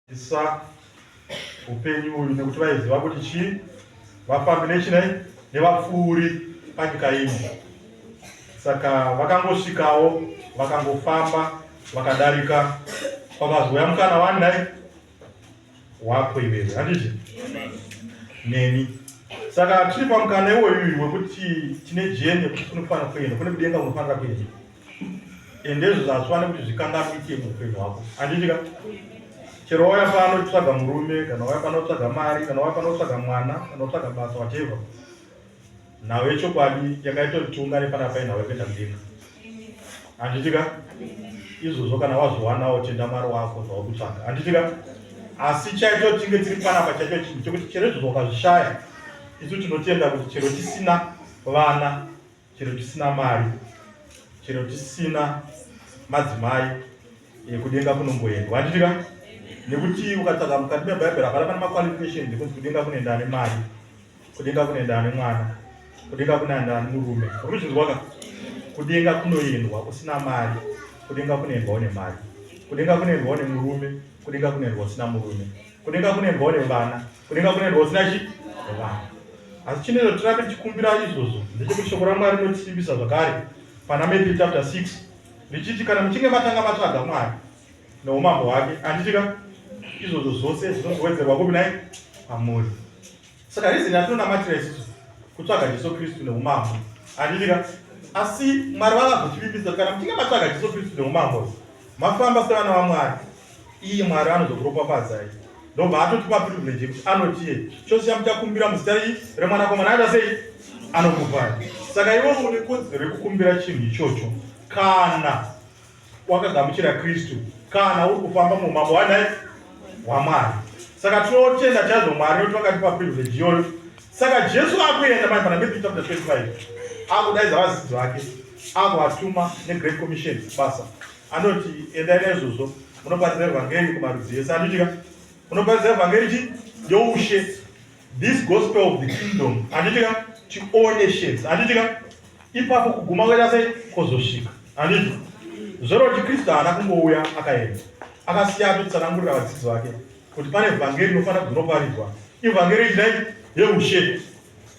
Isa upenyu uyu nekuti vaiziva kuti chii vafambi nechinai nevapfuuri panyika ino. Saka vakangosvikawo vakangofamba vakadarika kwakazouya mukana wani nai wako iwewe handizvi neni saka tiri pamukana iwoyu wekuti tine jeni yekuti kunofanira kuenda kune kudenga kunofanira kuenda ende izvozvo hazvifane kuti zvikanganise muupenyu hwako handitika chero wauya pano kutsvaga murume kana wauya pano kutsvaga mari kana wauya pano kutsvaga mwana kana kutsvaga basa wateva nhau yechokwadi yakaita kuti tiungane pana pai nhau yekuita mudenga handitika izvozvo kana wazviwanawo tenda mwari wako zvava kutsvaga handitika asi chaito tinge tiri panapa chaito chinhu chekuti chero izvozvo ukazvishaya isu tinotenda kuti chero tisina vana chero tisina mari chero tisina madzimai eh, kudenga kunomboendwa handitika nekuti ukatsvaga mukati mebhaibheri hapana pane maqualification ekunzi kudenga kunoenda ane mari kudenga kunoenda ane mwana kudenga kunoenda ane murume uri kuzvinzwaka kudenga kunoendwa usina mari kudenga kunoendwa une mari kudenga kunoendwa une murume kudenga kunoendwa usina murume kudenga kunoendwa une vana Kudenga kune rwo usina chi? Rwani. Asi chinero tirambe tichikumbira izvozvo ndechekuti shoko raMwari rinotisimbisa zvakare pana Matthew chapter 6 richiti kana muchinge matanga matsvaga Mwari noumambo hwake anditika izvozvo zvose zvinozowedzerwa kupi nai amuri saka rizini atinonamatira isisu kutsvaga jesu kristu neumambo anditika asi mwari vakazotivimbisa kana muchinge matsvaga jesu kristu neumambo mafamba sevana vamwari iye mwari anozokuropafadzai ndobva atotipa privilege yekuti anotiye chose chamuchakumbira muzita rii remwanakomana aita sei anokupai saka iwe une kodzero yekukumbira chinhu ichocho kana wakagamuchira kristu kana uri kufamba muumambo wanai hwamwari saka tinotenda chaizvo mwari nekuti vakatipa privilege iyoyo saka jesu akuenda mai pana matthew chapter 25 akudaidza vadzidzi vake akuvatuma negreat commission basa Anoti endai naizvozvo munoparidza evhangeri kumarudzi ese. Anditika munoparidza evhangeri chi youshe this gospel of the kingdom. Anditika chioneshes. Anditika ipapo kuguma kwenda sei kozosvika. Anditi zvero kuti Kristu haana kungouya akaenda akasiya atotsanangurira vadzidzi vake kuti pane evhangeri inofanira kuti rinoparidzwa ivhangeri idai yeushe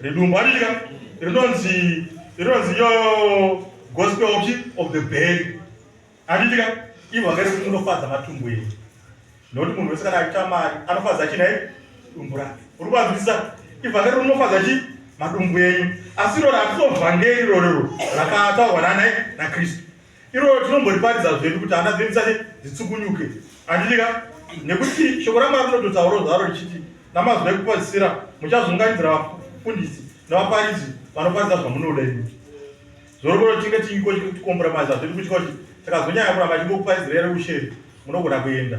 Ridumbu aritika rinonzi rinonzi yo gospel of of the bell. Aritika ivo vakare kuti unofadza matumbu edu. Noti munhu wese kana aita mari anofadza china ye dumbu rake. Uri kwazvisa ivo vakare unofadza chi madumbu enyu. Asi rora atizovhangeri rorero rakataurwa nana na Kristu. iroro tinomboriparidza zvedu kuti hana dzedu dzisati dzitsukunyuke handiti ka nekuti shoko ramwari rinototauro zvaro richiti namazwi ekupazisira muchazunganidzira vafundisi nevaparidzi vanoparidza zvamunoda imi zorokoro tinge tiiko chikuti komboromaiza zvedu kutya kuti takazonyanya kuramba chingokuparidzira yere usheri munogona kuenda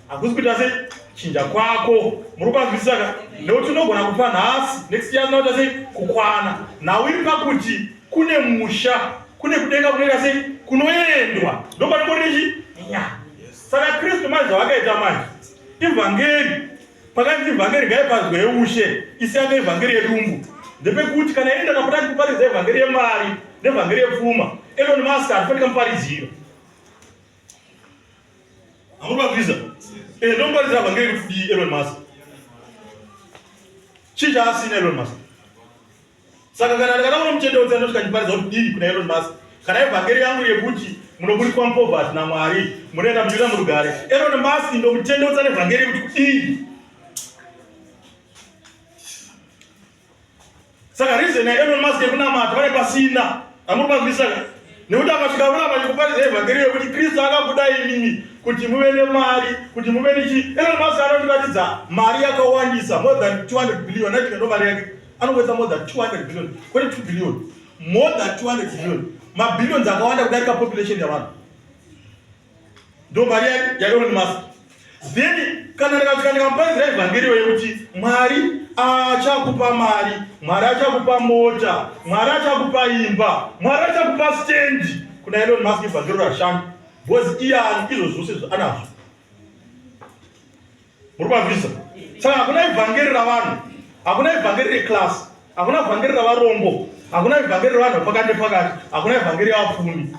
hakusi kuita sei chinja kwako muri kwanzwisisa ka nekuti unogona kupa nhasi next year zinoita sei kukwana nhau iri pakuti kune musha kune kudenga kunoita sei kunoendwa ndopanongorichi nya saka kristu manje zvavakaita manje ivhangeri pakanzi ivhangeri ngaipanzwa yeushe isiyanga ivhangeri yedumbu ndepekuti kana enda kapotati kuparidza ivhangeri yemari nevhangeri yepfuma elon musk hatifanira muparidziro Amuri vabvisa. Eh, don't worry about getting to be Elon Musk. Chii chaasina Elon Musk? Saka kana ndakataura muchendo wese anoti kandiparidza kuti dii kuna Elon Musk. Kana evhangeri yangu yekuti munoburikwa mupovati naMwari, munoenda munyika murugare. Elon Musk ndomutendo wese anevhangeri kuti kudii? Saka reason ya Elon Musk yekunamata vari pasina amuri pazvisa nekuti akasvika kuramba chikuparidza evhangeri yekuti Kristu akabuda imimi kuti muve nemari kuti muve nechi Elon Musk anotiratidza mari yakawandisa more than 200 billion naiti ndo mari yake anowesa more than 200 billion kwete 2 billion more than 200 billion mabillions akawanda kudarika population yavanhu ndo mari yaElon Musk then kana ndikatikamuparidza evhangeri yo yekuti mwari achakupa mari mwari achakupa mota mwari achakupa imba mwari achakupa stendi kuna elon musk evhangeri rashanda bcause iyani izvo zvose zvaanazvo muri kwavisa saka hakuna ivhangeri ravanhu hakuna ivhangeri reklasi hakuna ivhangeri ravarombo hakuna ivhangeri revanhu vepakati nepakati hakuna ivhangeri yavapfumi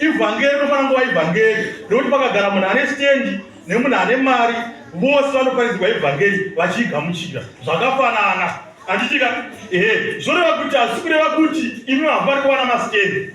ivhangeri rofana nguva ivhangeri rekuti pakagara munhu ane stendi nemunhu ane mari vose vanoparidzirwa ivhangeri vachiigamuchira zvakafanana handitika ehe zvoreva kuti hasi kureva kuti imi hamufaniri kuwana masitendi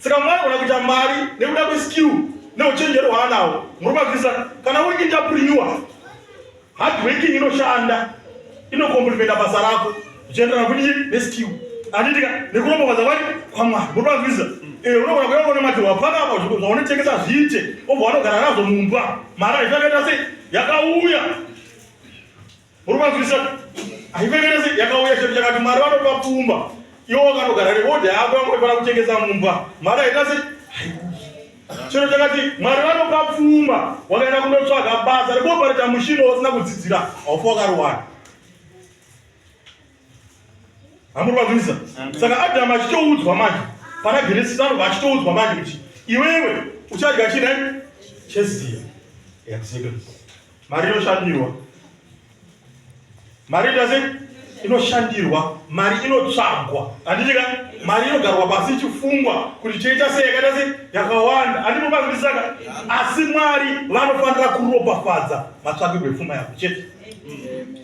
Saka mwana kana kuita mari nekuda kweskill neuchenjeri hwaanawo muri mavisa kana uri entrepreneur hard working inoshanda inokomplimenta basa rako zvichienderana kuti neskill anditika nekuromba basa kwake kwamwana muri mavisa eh, unogona kuyaona mati wapaka apa zvaunotengesa zviite obva wanogara nazvo mumba mari aisakaita sei yakauya Muri kunzwisisa? Haipengere sei yakauya chero chakati Mwari vanopa pfuma. Iwo wakanogara nebodhi yako yangu ifana kuchengeta mumba. Mari haita sei? Chero chakati Mwari vanopa pfuma wakaenda kundotsvaga basa rekuopareta mushini wasina kudzidzira haufa wakarowana. hamuri vakunisa saka adamu achitoudzwa manje pana genesis anobva achitoudzwa manje kuti iwewe uchadya chine cheziya mari inoshandirwa mari itase inoshandirwa mari inotsvagwa handitika mari inogarwa pasi ichifungwa kuti cheita sei yakaita sei yakawanda handinobakutisaka asi mwari vanofanira kuropafadza matsvakirwo epfuma yako chete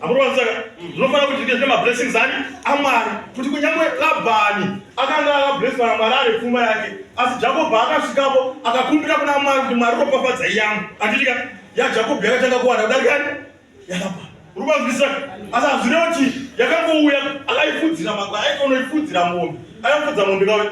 amuronza ndinofanira kuti ndizve mablessings ani amwari kuti kunyangwe labhani akanga akabless vana mwari ari pfuma yake asi jakobho akasvikapo akakumbira kuna mwari kuti mwari ropafadza iyangu anditika yajakobho yakatanga kuwana kudarikani yalabhani rubanzwisa asi hazvine kuti yakangouya akaifudzira mangwa aitonoifudzira mombe akafudza mombe kawe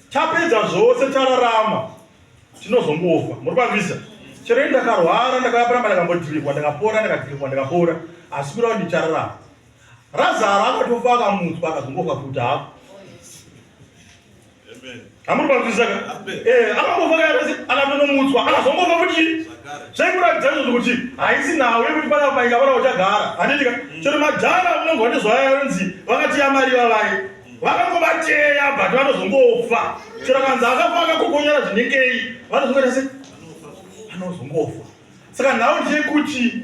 tapedza zvose tararama tinozongofa muri pamisa chero ndakarwara ndakaparamba ndakambodhirikwa ndakapora ndakadhirikwa ndakapora asi kurava ndichararama razaro akatofa akamutswa akazongofa futi hapo hamuri pamisa eh, akambofa kaasi akatonomutswa akazongofa futi zvaikuratidza izvozvo kuti haisi nhau yekuti pana paika pana uchagara handitika mm. chero madhara munonzwa nezvaya yonzi vakati yamari vavai vakangobateya but vanozongofa chero kanzi akafa akakokonyara zvinengei vanozongoita se vanozongofa saka nhau ndeyekuti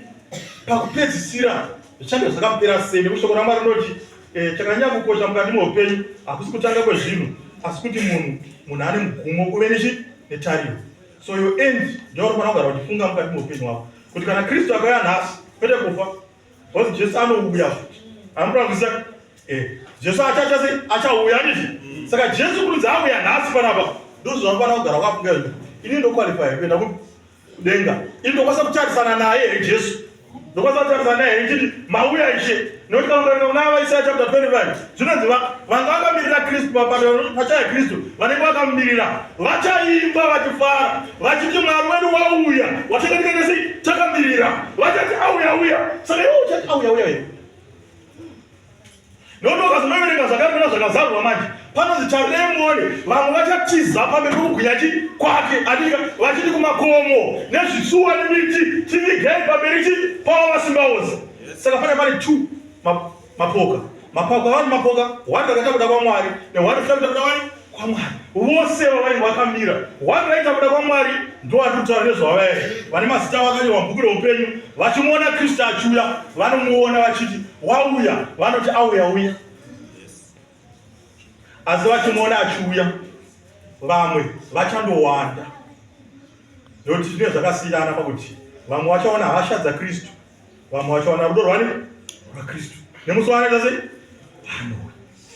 pakupedzisira zvichange zvakapera sei nekuti shoko ramwari rinoti eh, chakanyanya kukosha mukati meupenyu hakusi kutanga kwezvinhu asi kuti munhu munhu ane mugumo kuve nechi netariro so yo end ndoyaunofanira kugara uchifunga mukati meupenyu wako kuti kana kristu akauya nhasi kwete kufa Because Jesu anouya futi. Anoda kuziva eh Jesu achacha sei achauya nizvi. Mm. Saka Jesu kunzi auya nhasi panapa. Ndozvavanofanira kugara wakafunga izvi. Ini ndokwalifaya kuenda kudenga. Ini ndokwanisa kutarisana naye eh, Jesu. Ndokwanisa kutarisana naye eh, chiti mauya ishe. Nekuti kana ukaenda kuna Avaisaya chapter 25 zvinonzi vanga vakamirira kristu pachaya kristu vanenge vakamirira vachaimba vachifara vachiti mwari wedu wauya watakatikanesi takamirira vachati auya uya saka iwo uchati auya uya iwe nokuti ukazinoverenga zvakamira zvakazarwa manje panonzi charemoni vamwe vachatiza pamberi pokugwinya chi kwake anika vachiti kumakomo nezvisuwa nemiti tivigei pamberi chi pavo vasingaozi saka pane pane two Mapoka, mapoka, wani mapoka, wani rakaita kuda kwaMwari, newani rakaita kuda wani kwaMwari. Vose vavainge vakamira, wani rakaita kuda kwaMwari, ndovari kutaura nezvavaya vane mazita vakanyorwa mubhuku reupenyu, vachimuona Kristu achiuya, vanomuona vachiti wauya, vanoti auya uya, asi vachimuona achiuya, vamwe vachandowanda, nekuti zvine zvakasiyana pakuti vamwe vachaona hasha dzaKristu vamwe vachawana rudo rwani rwakristu nemusi waanoita sei anowe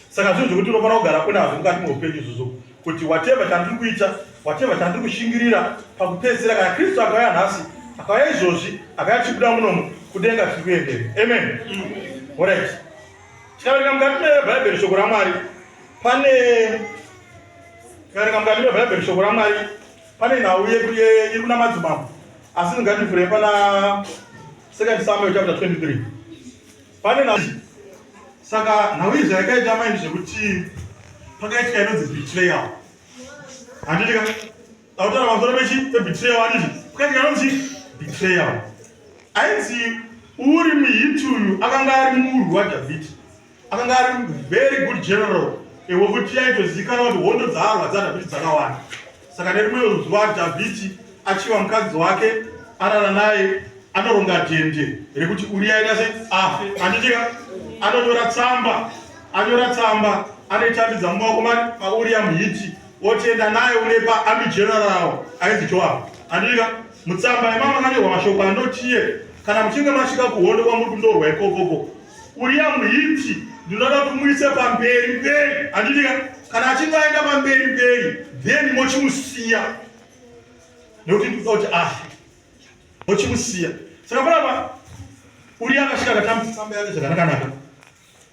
saka zvinhu zvekuti unofanira kugara kunazvo mukati meupenyu izvozvo kuti wateva chandiri kuita wateva chandiri kushingirira pakupedzisira kana kristu akauya nhasi akauya izvozvi akauya tichibuda munomo kudenga tiri kuendere amen orit tikaverenga mukati mebhaibheri shoko ramwari pane tikaverenga mukati mebhaibheri shoko ramwari Pane nhau yedu iri kuna madzimambo asi ndingativhurei pana second samuel chapter 23 pane nhau saka nhau izvi yakaita maini zvekuti pakaitika inonzi betrayal handitika tautaura pamusoro pechi pebetrayal andizvi pakaitika inonzi betrayal ainzi uri muhiti uyu akanga ari murwi wadhavhidhi akanga ari very good general ewe kuti yaitozivikanwa kuti hondo dzaarwa dzadhavhidhi dzakawanda saka nerimwe zuva dhavhidhi achiva mukadzi wake arara naye anoronga dhende rekuti uriya ita se afe anditika anonyora tsamba anyora tsamba anoitambidza mumaoko mauriya muhiti otienda naye unepa amigeneraro ainzi joab anditika mutsamba yemama anyorwa mashoko anotiye kana muchinge masvika kuhondo kwamuri kundorwa ikokoko Uriya muhiti ndinoda kumuisa pamberi mberi, handiti ka? Kana achinge aenda pamberi mberi, then mochimusiya nekuti ndikuda kuti ah, mochimusiya saka kurapa uriya akasvika akatambisa tsamba yake zvakanakanaka,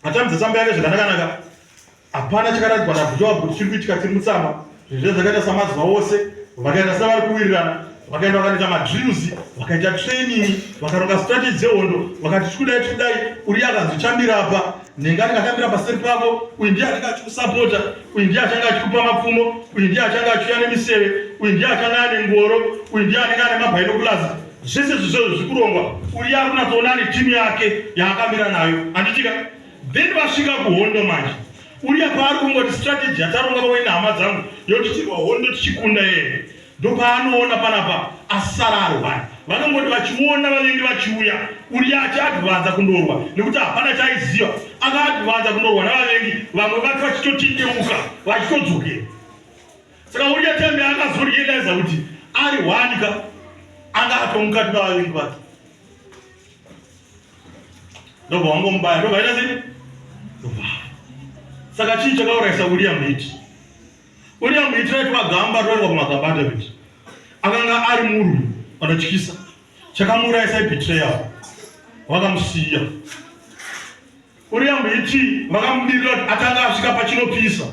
atambisa tsamba yake zvakanakanaka hapana chakaradzwa nabhujawa kuti chiri kuitika tiri mutsama zvezve zvakaita samazuva ose vakaenda sevari kuwirirana vakaenda vakanoita madrills vakaita training vakaronga strategy dzehondo vakati tikudai tikudai uri akazochambira apa nenge anenge achambira paseri pako uyu ndiye anenge achikusapota uyu ndiye achanga achikupa mapfumo uyu ndiye achanga achiuya nemiseve uyu ndiye achanga ane ngoro uyu ndiye anenge ane mabhainokulazi zvese zvizvo zvikurongwa uri yakunatsoona ane timu yake yaakamira nayo handitika then vasvika kuhondo manje uya paari kungoti strategy yataronga pamwe nehama dzangu yotitirwa hondo tichikunda yeye ndopaanoona panapa asara arwara vanongoti vachiona vavengi vachiuya uya achiadvanza kundorwa nekuti hapana chaiziva akaadvanza kundorwa navavengi vamwe vati vachitotindeuka vachitodzokera saka uya tembe akazorielaiza kuti ari hwanika anga atomukati navavengi vake ndobva wangomubaya ndobva aita sei saka chii chakaurayisa william hiti william hiti raitwa gamba roendwa kumagamba david akanga ari murwi anotyisa chakamuurayisa ibetrayal vakamusiya Uriyambo iti vakamumirira kuti akanga asvika pachinopisa.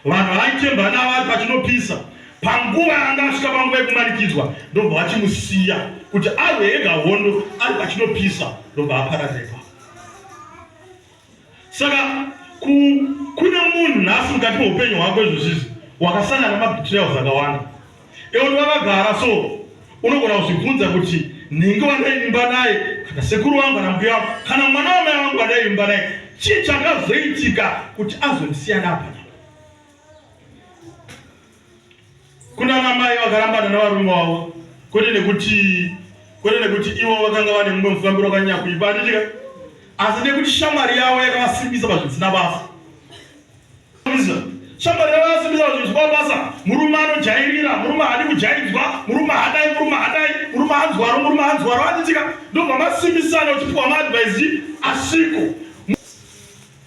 Vanhu vaitemba navo ari pachinopisa panguva yaanga asvika panguva yekumanikidzwa ndobva vachimusiya kuti arwe ega hondo ari pachinopisa ndobva apararepa. Saka kune munhu nhasi mukati meupenyu hwako izvozvizi wakasangana nemabetrayals akawanda. Yekuti vakagara so unogona kuzvibvunza kuti nhingi wandaivimba naye kana sekuru wangu kana mbuya wangu kana mwana wamai wangu wandaivimba naye chii chakazoitika kuti azondisiyana apa kuna namai vakarambana navarume wavo kwete nekuti kwete nekuti ivo vakanga vane mumwe mufambiro wakanyanya kuipa anditika asi nekuti shamwari yavo yakavasimbisa pazvisina basa shamwari yavo yasimisa kuti zvikwa basa murume anojairira murume haadi kujaidzwa murume hadai murume hadai murume anzwaro murume anzwaro atitika ndobva masimisana uchipiwa maadvaisi asiko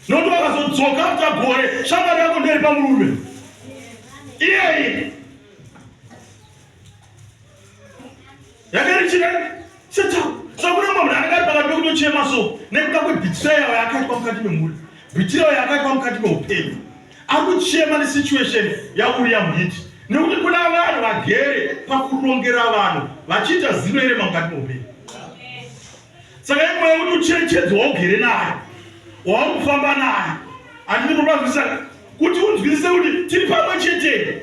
nokuti vakazodzoka afta gore shamwari yako nderi pamurume iyeye yakarichirei seta sakuna munhu anenge ari pakati pekutochema so nekuda kwebhitirayo yakaitwa mukati memhuri bhitirayo yakaitwa mukati meupenyu ari kuchema nesituation yauriya muiti nekuti kuna vanhu vagere pakurongera vanhu vachiita zino ere mukati meupenyu saka imwe yekuti ucherechedzi waugere nayo wauri kufamba nayo andini kurwazisa kuti unzwisise kuti tiri pamwe chete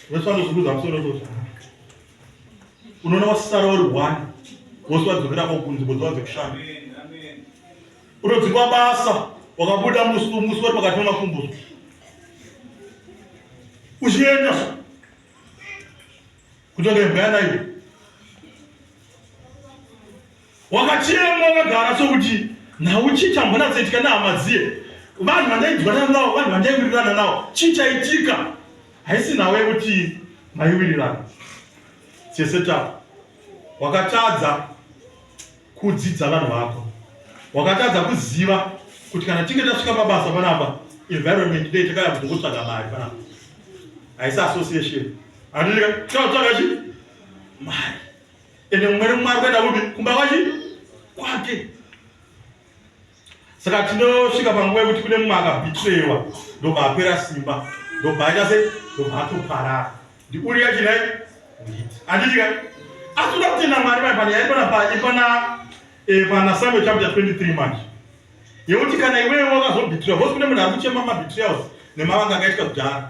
vese vanozunguza musoro izvozvo unoona wasara uri one vose vadzokera kwakunzi bodzo vadzekushanda unodzikwa basa wakabuda musi musi wari pakati pemakumbuzo uchienda kutonga imbwa yanaiyo wakachema wakagara sokuti nhau chii chambonatsoitika nehama dziye vanhu vandaidwanana navo vanhu vandaiwirirana navo chii chaitika haisi nhau yekuti maiwirirana seseta wakatadza kudzidza vanhu vako wakatadza kuziva kuti kana tinge tasvika pabasa panapa environment dei takaya kuti ngotsvaga mari panapa haisi association anoika taatsvaga chi mari ende mumwe nemumwe ari kuenda kupi kumba kwachi kwake saka tinosvika panguva yekuti kune mumwe akabhitrewa ndobva apera simba ndobva aita se ndobva atoparara ndiuri yachinai uiti anditika asi uda kutenda mwari mai pane yaipana paipana eh, pana samuel chapter 23 manje yekuti kana iwewe wakazobhitirwa vose kune munhu ari kuchema mabhitirals nemavanga akaitwa kudhara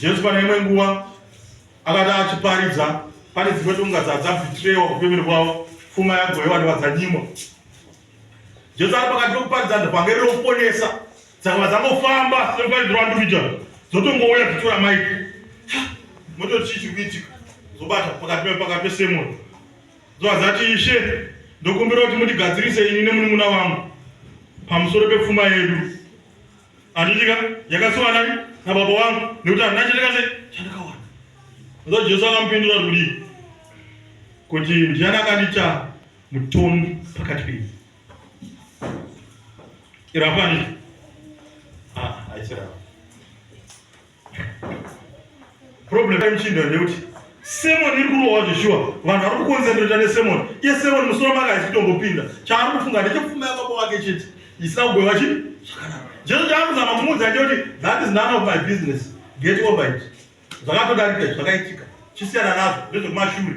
Jesu pane imwe nguva akati achiparidza pane dzimwe tonga dzadzabhitirewa kupemeri kwavo pfuma yagoyewa ndevadzanyimwa jesu ari pakati pekuparidza ndevhangeri rokuponesa dzakava dzangofamba sekuparidzirwa nduvija dzotongouya dzitora maiki mototi chii chiri kuitika zobata pakati pakati pesemoni dzova dzati ishe ndokumbira kuti mundigadzirise ini nemunun'una wangu pamusoro pepfuma yedu Anditika yakasuwa nani na baba wangu nekuti handina chandakaze chandakawana. Ndio Jesu akampindura rudi. Kuti ndiani akandicha mutongi pakati penyu. Irapani. Ah, aisira. problem yemuchindo ndeyekuti semoni iri kurohwa zveshuwa vanhu vari kukonzentreta nesemoni iye semoni musoro make haisi kutongopinda chaari kufunga ndechepfuma yababa wake chete isina kugweva chi zvakanaka jesu chaari kuzama kumuudza ndeyekuti that is none of my business get over it zvakatodarika zvakaitika chisiyana nazvo ndezvekumashure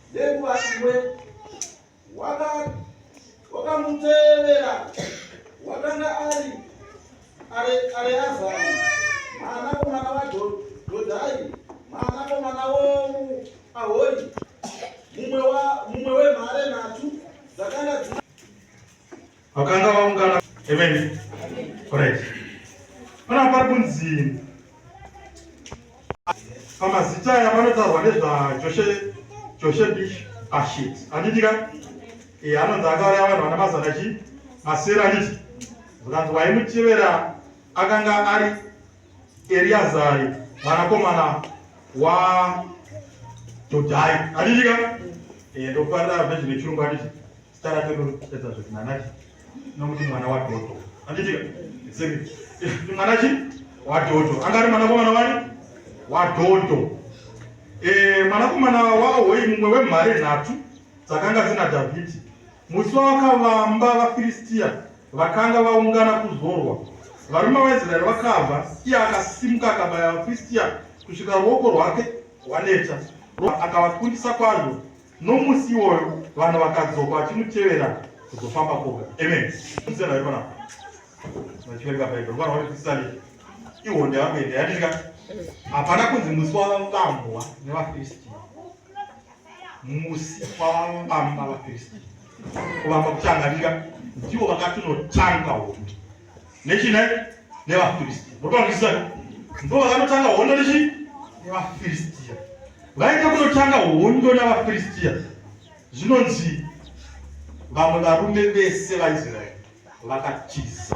Nenguva imwe wakamutevera wakanga ari Areazari mwanakomana waDhodhai mwanakomana womuAhori mumwe wemhare nhatu dzakanga dzina vakanga vaungana amen right pana pari kunzi pamazita aya panotaurwa nezvajoshe joshe bish ashit andidika e anonzi akauraya vanhu vana mazana chi masera anditi zvikanzi waimutevera akanga ari eriazari mwanakomana wadhodhai andidika e ndokuparira vhezhi nechirungu anditi Eh, mwanakomana waohoi mumwe wemhare nhatu dzakanga dzina dhavhidhi musi wavakavamba vafiristiya vakanga vaungana kuzorwa varume vaisraeri vakabva iye akasimuka akabaya vafiristiya kusvika ruoko rwake rwaneta akavakundisa kwazvo Nomusi iwoyo vanhu vakadzoka vachimutevera kuzofamba kwoga. Amen. Musiyana vari panapa. Vachiverenga Bhaibheri. Vana vari kudzisani. Iwo ndevakuenda. Yadika. Hapana kunzi musi wavambwa nevaFiristia. Musi wavambamba vaFiristia. Kuvamba kuchanganika. Ndiwo vakatunotanga hondo. nechine nevafiristia mutoangisisa ndo vakanotanga hondo nechi nevafiristia vaita kunotanga hondo navafiristia zvinonzi vamwe varume vese vaisraeri vakatiza